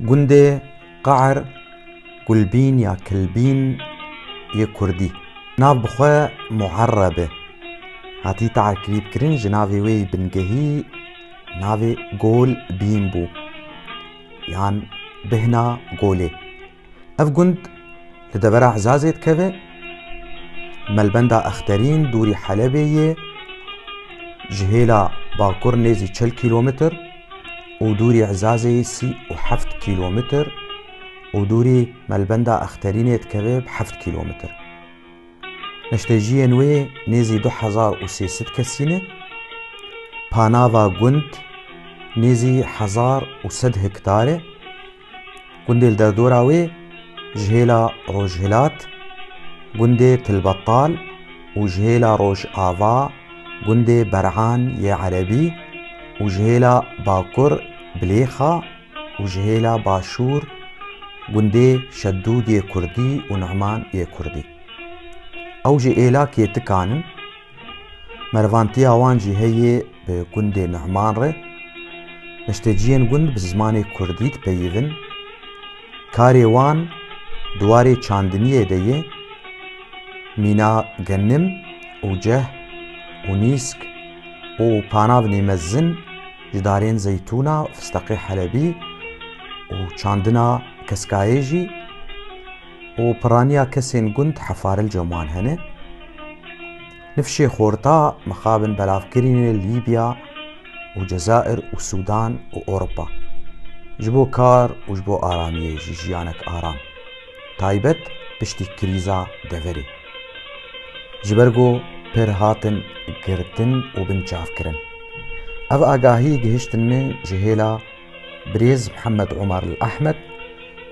Gundê Qaer, Gulbîn ya Kilbîn yê Kurdî, nav bi xwe Muerebe hatî tarkîbkirin ji navê wê yê bingehî navê Gol bîn bû yan bihna Golê. Ev gund li devera Ezazê dikeve, melbenda Exterîn dûrî Helebê yê, ji hêla bakur nêzî çil kîlometr û dûrî Ezazê yê sî û heft kîlometr û dûrî melbenda Exterînê dikeve bi heft kîlometr. Neştejiyên wê nêzî du hezar û sê sed kesî ne. Panava gund nêzî hezar û sed hektar e. Gundê li derdora wê ji hêla rojhilat gundê Tilbetal û ji hêla rojava gundê Berhan yê Erebî û ji hêla bakur Bilêxa û ji hêla başûr gundê Şedûd yê Kurdî û Numan yê Kurdî. Ew ji êlakê tikan in. Mervantiya wan jî heye bi gundê Numan re. Nişteciyên gund bi zimanê kurdî dipeyivin. Karê wan di warê çandiniyê de ye. Mîna genim û ceh û nîsk û panavnê mezin ji darên zeytûna, fisteqê helebî û çandina keskayê jî, û piraniya kesên gund hefarlca man hene. Nifşê xorta mixabin belavkirînê li Lîbya û Cezair û Sûdan û Ewropa. Ji bo kar û ji bo aramiyê jî jiyanek aram. Taybet piştî krîza deverê. Ji ber ku pir hatin girtin û binçavkirin. Ev agahiyê gihiştin min ji hêla Birêz Mihemed Omar El Ahmed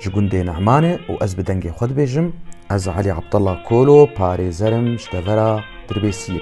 ji gundê Ne'man e û ez bi dengê xwe dibêjim, Ez Elî Abdullah Kolo parêzer im ji devera Dirbêsiyê.